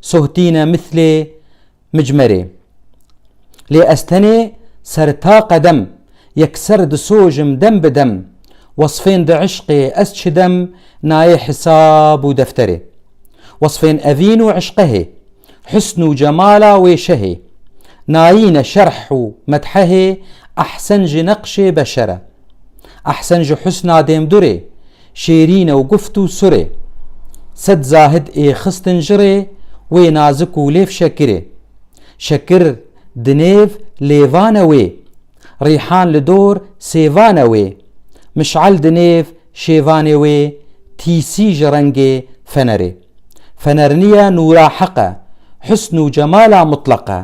Sohtîne mislê micmerê. Lê ez tenê ser ta qedem yekser disojim dem bi dem Wesfên di îşqê ez çidem nayê hisab û defterê Wesfên evîn û îşqehê Husn û cemala wê şehê Nayîne şerh û medhehê Ehsen ji neqşê beşere Ehsen ji husna dêmdurê Şêrîn ew guft û surê. Sed zahid ê xistin ji rê wê nazik û lêv şekirê. Şekir di nêv lêvan e wê. Rîhan li dor sêvan e wê. Miş'el di nêv şêvanê wê tîsî ji rengê fenerê. Fener niye nûra heq e. Husn û cemala mutleq e.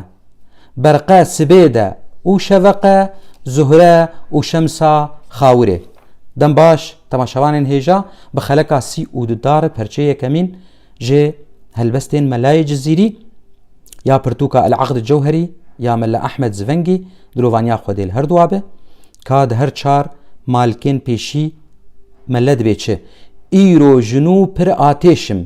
Berqe sibê de û şeveqe zuhre û şemsa xawirê. Dem baş temaşevanên hêja bi xeleka sî û du dare perçê yekemîn jê helbestên Melayê Cizîrî ya pirtûka El Aqd Cewherî ya Mela Ehmed Zivengî dilovaniya xwedê li her duwabe ka di her çar malkên pêşî mele dibê çi, Îro jinû pir atêşim.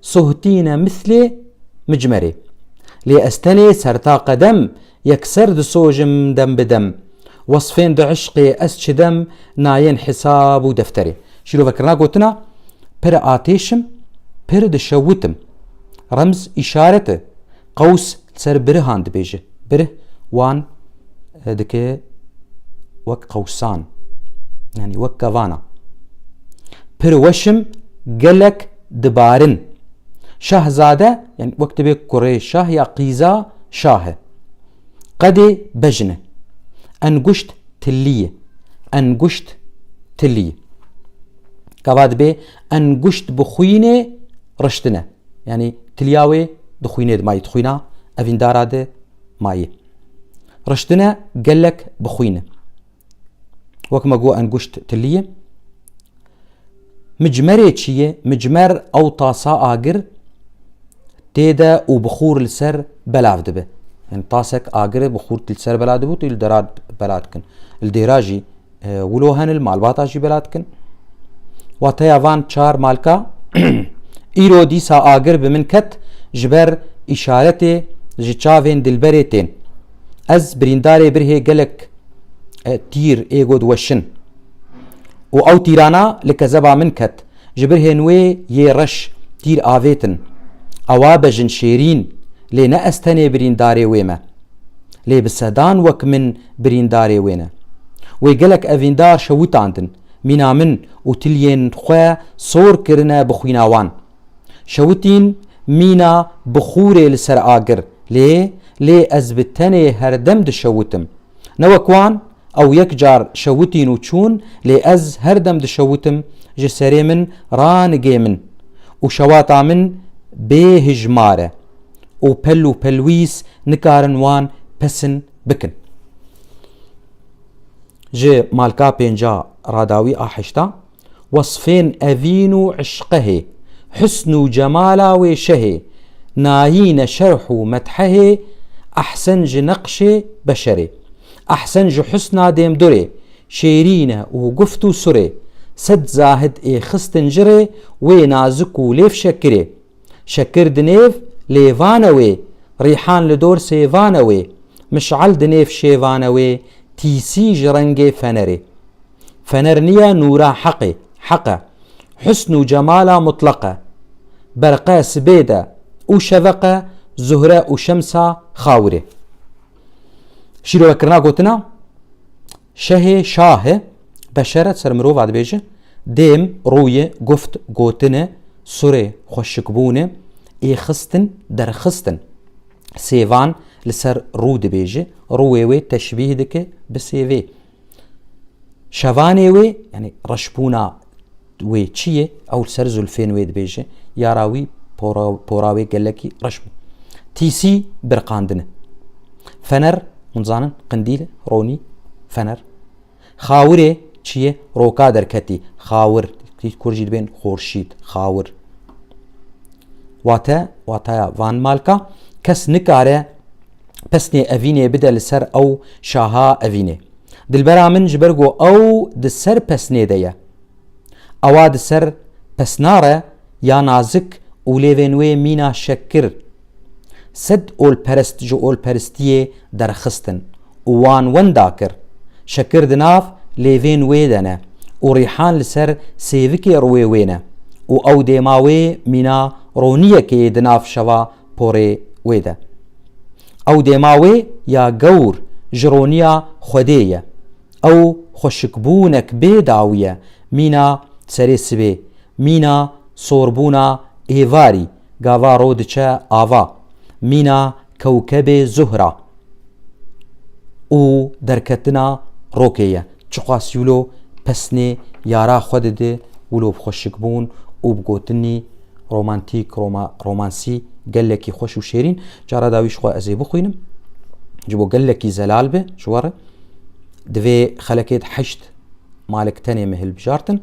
sohtîne mislê micmerê. Lê ez tenê serta qedem yekser disojim dem bi dem. Wesfên di îşqê ez çidem nayên hesab û defterê. Şîrovekirina gotina pir atêşim, pir dişewitim. Remz îşaret e. Qews li ser birihan dibêje. Birih wan dike wek qewsan, yanî wek kevana. Pir weşim gelek dibarin. Şahzade yanî wek dibe kurê şah ya qîza şah e. Qedê bejn e. Enguşt tilî ye. Enguşt tilî. Kava dibe enguşt bixwînê riştine. Yanî kiliya wê di xwînê di mayî di xwîna evîndara di mayî. Riştine gelek bi xwîn. Wek me got enguşt tiliyê. Micmerê çi ye? Micmer ew tasa agir tê de û bixûr li ser belav dibe. Yani tasek agir bixûr li ser belav dibû tu li dera belav dikin. Li dêra jî Wilo henil malbata jî bela dikin. Wateya van çar malka îro dîsa agir bi min ket ji ber îşaretê ji çavên dilberê tên. Ez birîndarê birhê gelek e, tîr ê got weşin. û ew tîrana li kezeba min ket. Ji ber hên wê yê reş tîr avêtin. Ewa be jin şêrîn, lê ne ez tenê birîndarê wê me. Lê bi sedan wek min birîndarê wê ne. Wê gelek evîndar şewitandin, mîna min û tiliyên xwe sor kirine bi xwîna wan. Şewitîn mîna bi xûrê li ser agir lê lê ez bi tenê herdem dişewitim. Ne wek wan, Ew yek car şewitîn û çûn lê ez her dem dişewitim ji serê min ranigê min û şewata min bê hijmar e û pel û pelwîs nikarin wan pesin bikin. Ji malka pênca radawî a heşta Wasfên evîn û îşqehê, husn û cemala wê şehê, nayîne şerh û methehê, ehsen ji neqşê beşerê, ehsen ji husna dêmdurê, şêrîne û guft û surê, sed zahid ê xistin ji rê, wê nazik û lêv şekirê. Şekir di nêv lêvane wê, rîhan li dor sêvane wê, miş'el di nêv şêvane wê, tîsî ji rengê fenerê. Fener niye nûra heqê, heq e. Husn û cemala mutlaq e. Berqe sibê de û şeveq e, zuhre û şemsa xawirê. Şîrovekirina gotina şehê şahi beşeret ser mirova dibêje dêm rûyê guft gotine surê xweşikbûne ê xistin derxistin. Sêvan li ser rû dibêje, rûyê wê teşbîh dike bi sêvê. Şevanê wê yani reşbûna wê çi ye ew ser zulfên wê dibêje yara wî pora wê gelekî reş bû. Tîsî birqandine. Fener hûn zanin qindîl ronî fener. Xawirê çi ye roka derketî xawir kur jî dibên xorşîd xawir. Wate wataya van malka kes nikare pesnê evînê bide li ser ew şaha evînê. Dilbera min ji ber ku ew di ser pesnê de ye. Ewa di ser pesna re ya nazik û lêvên wê mîna şekir. Sed olperest ji olperistiyê derxistin û wan wenda kir. Şekir di nav lêvên wê de ne û Rîhan li ser sêvikê rûyê wê ne û ew dêma wê mîna roniyekê di nav şeva porê wê de. Ew dêma wê ya gewr ji roniya Xwedê ye. Ew xweşikbûnek bê dawî ye, mîna serê sibê, mîna sorbûna êvarî, gava ro diçe ava, mîna kewkebê Zuhra û derketina rokê ye. Çiqas Yulo pesnê yara xwe dide Wilo bi xweşikbûn û bi gotinî romantîk, roma, romansî gelekî xweş û şêrîn. Cara dawî jixwe ez ê bixwînim. Ji bo gelekî zelal be ji we re. Divê xelekê di heşt malik tenê me hilbijartin.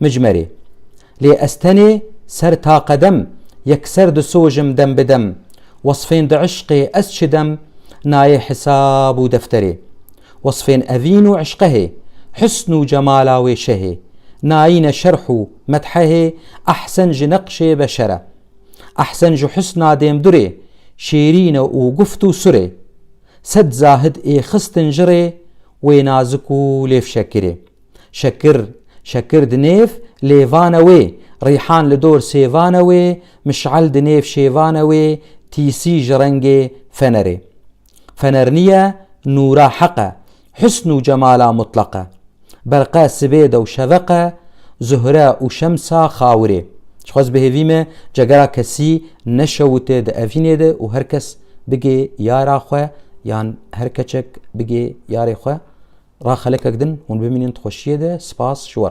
Mijmerê. Lê ez tenê ser ta qedem yekser disojim dem bi dem, wesfên di ışqê ez çidim nayê hisab û defterê. Wesfên evîn û ışqehê, husn û cemala wê şehê, nayîne şerh û medhehê ehsen ji neqşê beşer e. Ehsen ji husna dêmdurê, şêrîn e û guft û surê. Sed zahid ê xistin jirê wê nazik û lêfşekirê. Şekir, şekir di nêv lêvane wê, rîhan li dor sêvane wê, miş'el di nêv şêvane wê, tîsî ji rengê fenerê. Fener nîye, nûra heq e, husn û cemala mutleq e. Berqe sibêde û şeveq e, zuhre û şemsa xawirê. Dixwaz bihêvî me cegera kesî neşewite di evînê de û her kes bigê yara xwe yan her keçek bigê yarê xwe. Ra xelekek din hûn bimînin di xweşiyê de. Spas ji we.